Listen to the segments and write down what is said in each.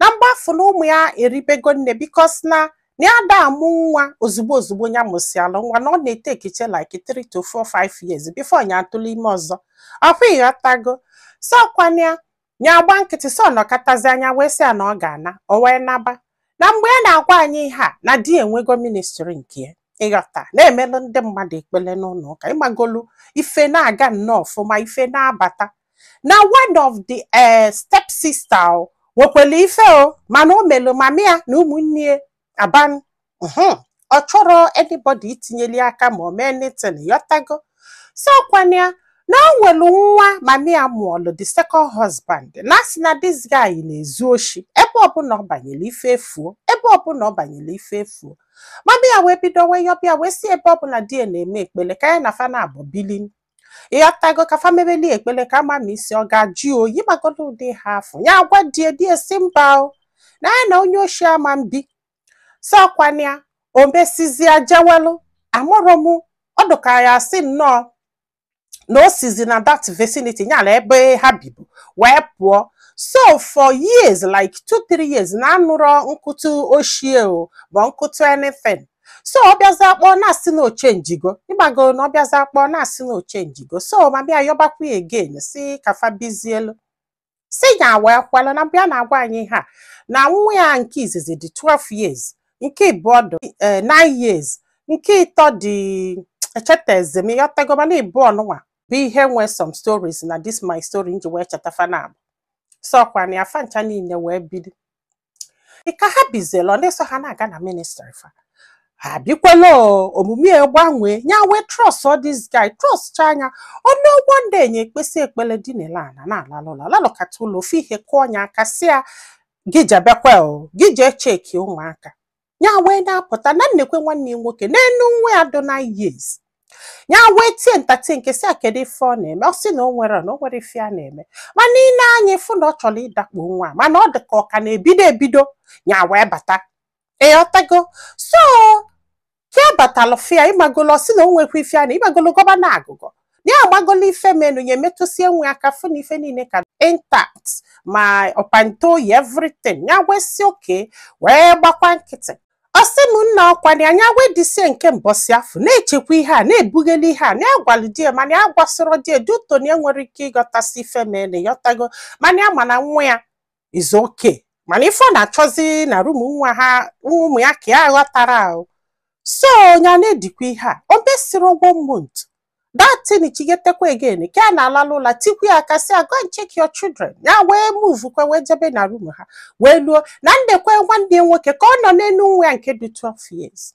na mgbe afụ na ụmụ ya eribego nne because na na ya ada amụ nwa ozugbo ozugbo ya mụsịalụ nwa na ọ na-etake ihe like 3 to 4 5 years before ya atụlụ ime ọzọ ọkwa ịghọtago so ọkwana ya ya agba nkịtị so nọkatazia nya wee sị ya na ọ ga-ana o wee naba na mgbe ya na-agwa anyị ihe a na di enwego ministry nke ya ịghọta na-emelụ ndị mmadụ ekpele n'ụnọ ụka ịmagolu ife na-aga nnọọ ọfụma ife na-abata na one of the eh, step sister o nwekwelu ife o mana o melu mama ya na ụmụnne ya a ban mhm. ọ chọrọ anybody itinyeli aka ma o mee anything ịghọtago so kwana ya na o nwelu nwa mama ya mụọlụ the second husband na a sị na this guy na-ezu oshi ebe ọbụna ọ banyere ife efuo ebe ọbụna ọ banyere ife efuo mama ya wee bido wee yọba ya wee sị ebe ọ bụ na di ya na-eme ekpele ka ya na fa naabọ bili ịghọtago ka fa mebeli ekpele ka a ma ma isi ọ ga-ajụ oyi ịmagolu ụdị ihe afụ ya agwa di ya di ya sị mba o na ya na onye oshi ama ebi so kwana ya o mesizia jewelụ amarọ m ọ dị ka ya asị nnọọ na o sizi na that vicinity ya na ebe ha bibu wee pụọ so for years like two three years na anụrọ mkpọtụ oshi ya o ma mkpọtụ anything so ọ bịazi akpọ na-asị na ọ chenjigo ịmago na ọ bịazi akpọ na-asị na ọ chenjigo so mama ya yọbakwa ya again sị ka fa bizielu si nya wee kwelụ na mgbe ya na-agwa anyị ihe a na nwa ya nke izizi dị 12 years nke ịbụọ dị eh, 9 years nke ịtọ dị echetazi m ịghọtago mana ịbụọ nụnwa bụ ihe nwe some stories na this my story nji wee cheta fa naabọ so kwana ya fa ncha niile wee bili Ị ka ha bizilu ọ na-eso ha na-aga na ministry fa ha bikwela o, omume ya gbanwee nya wee trustuo this guy trustchaa nya one good day nya ekpesịa ekpele dinelu ana na-alalụ ụla lalụkata ụla ofu ihe kụọ nya aka sị ya gị jebekwa o gị jee checkie ụmụaka ya wee na-apụta na nekwe nwanne ya nwoke n'enu nwa ya dị nine years ya wee tie ntatị nke sị ya kedu ife ọ na-eme ọ sị na o nwerọ na o nwerọ ife ya na-eme mana i nee anya ị fụ na ọ chọrọ ịdakpo nwa a, mana ọ dị ka ọ ka na-ebido ebido ya wee bata ịghọtago so ka ya batalụ fụ ya ịmagolu ọ sị na o nwekwa ife ya na ịmagolu gọba na agụgọ ya agbagola ife menu ya emetụsịa nwa ya aka fụ na ife niile ka intact ma pant o yi everything ya wee sị okay wee gbakwa nkịtị ọ sị m nna ọkwana nya wee disie nke mbọsị afụ na-echekwa ihe a na-ebughali ihe a na-agwalụ di ya mana ya agwasịrọ di ya due to na ya enwerọ ike ịghọtasị ife menu ịghọtago mana ya ma na nwa ya is okay mana ife ọ na-achọzi na room nwa ha ụmụ ya ka ya ghọtara ahụ so ya na-edikwa ihe a o mesịrị ụgwọ month that thing chighetekwa again ka a na-alalụ ụla tikwu ya aka sị go and check your children ya wee move kwe wee jebe na room ha wee luo na nekwa nwanne ya nwoke ka ọ nọ n'enu nwa ya nke dị 12 years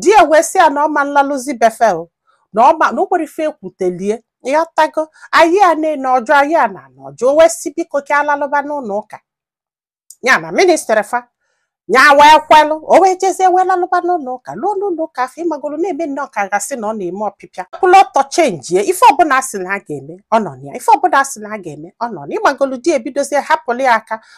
di ya wee sị ya na ọ ma nlalụzi be fa na o nwere ife e kwutelie ịghọtago anyị a na-ene ọjọ anyị a na-anọ ọjọ o wee sị biko ka a lalụba n'ụlọ ụka ya na ministry fa ya wee kwelụ o wee jezie wee lalụba n'ụlọ ụka luo n'ụlọ ụka afụ ịmagolo na-eme nnọọ ka a ga-asị na ọ na-eme ọpịpịa kwụlụ ọtọ chenjie ife ọbụla a sị na a ga-eme ọ nọ na ya ife ọbụla a sị na a ga-eme ọ nọ na ịmagolo di ya bidozie hapụlụ ya aka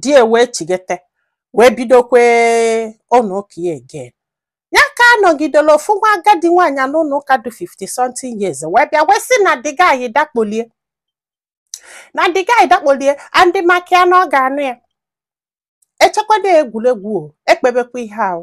di ya wee chighete wee bidokwe ụlọ ụka ya again ya ka a nọgidelu ofu nwa agadi nwaanyị a n'ụlọ ụka dị 50 something years wee bịa wee sị na the guy dakpolie na the guy dakpolie and maka ya na ọ ga-anụ ya e chekwa na egwuregwu o ekpebekwa ihe ahụ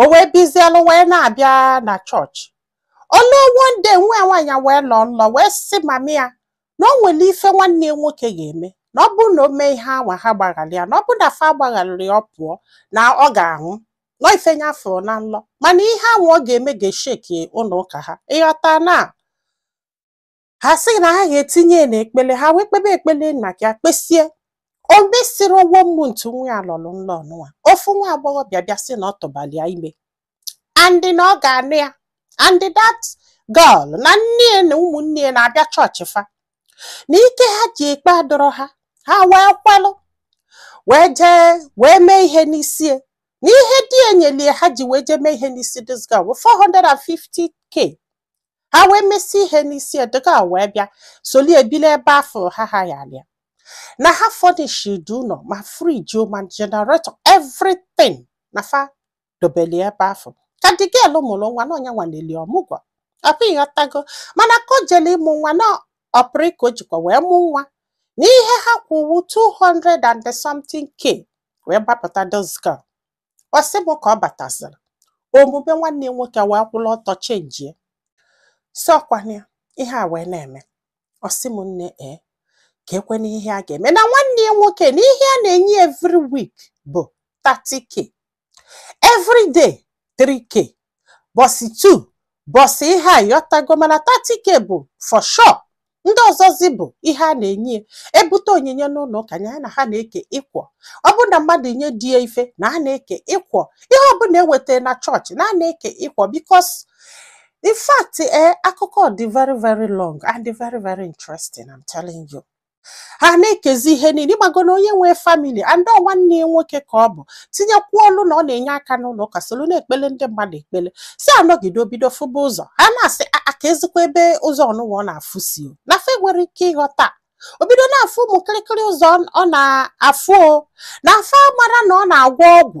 o wee bizielụ wee na-abịa na chọọchị o lue one day nwa nwaanyị wee lọ nlọ wee sị mummy ya na o nwere ife nwanne ya nwoke ga-eme na ọ bụrụ na o mee ihe anwa ha gbaghalụ ya na ọ bụrụ na fa agbagharịrị ya ọ pụọ na ọ ga-anwụ na ọ ife ya fụrụ na nlọ mana ihe anwa ọ ga-eme ga-esheki ụlọ ụka ha ịghọta na ha sị na ha ga-etinye ya n'ekpele ha wee kpebe ekpele ya ka e kpesie o mesịrị ụgwọ month nwa ya lọrọ nlọ ọnụnwa ofu nwa agbọghọ bịa bịa sị na ọ tụbali ya ime and na ọ ga-anụ ya and that girl na nne ya na ụmụnne ya na-abịa chọọchị fa na ike ha ji ekpe adọrọ ha ha wee kwalụ wee jee wee mee ihe n'isi ya na ihe di ya nyeli ha ji wee jee mee ihe n'isi this girl 450k ha wee mesie ihe n'isi the girl wee bịa soli ya bili ebe afụ ha ha ya alịa na ha furnish the ụlọ ma fridge ma generator everything na fa dobeli ebe afụ ka the girl mụrụ nwa na onye nwa na-eli ọmụgwọ afụ ịghọtago mana ka o jele ịmụ nwa na operation ka o jikwa wee mụ nwa na ihe ha kwụ wụ 200 and something k wee gbapụta this girl ọ sị m ka ọ bataziri omume nwanne ya nwoke wee kwụrụ ọtọ chenjie so ọkwana ya ihe a wee na-eme ọ sị m nne ee ka ekwe na ihe a ga-eme na nwanne ya nwoke na ihe a na-enye ya every week bụ 30k every day 3k bọsị 2 bọsị ihe a ịghọtago mana 30k bụ for sure ndị ọzọzi bụ ihe a na-enye ya e bute onyinye n'ụlọ ụka ya na ha na-eke equal ọ bụrụ na mmadụ nye di ya ife na a na-eke equal ihe ọbụla e wetara na chọọchị na a na-eke equal because in fact ee akụkọ dị very very long and very very interesting I'm telling you ha na-ekezi ihe niile ị mago na onye nwee family and ọ nwanne ya nwoke ka ọ bụ tinyekwuo ọlụ na ọ na-enye aka n'ụlọ ụka solu na-ekpele ndị mmadụ ekpele sị a nọgide o bido fụba ụzọ ha na-asị "A- a ka ezikwa ebe ụzọ ọnụwa ọ na-afụ sị na ife e nwere ike ịghọta o bido na-afụ ụmụ kịrịkịrị ụzọ ọ- ọ na-afụ ọ na-afụ a mara na ọ na-agwọ ọgwụ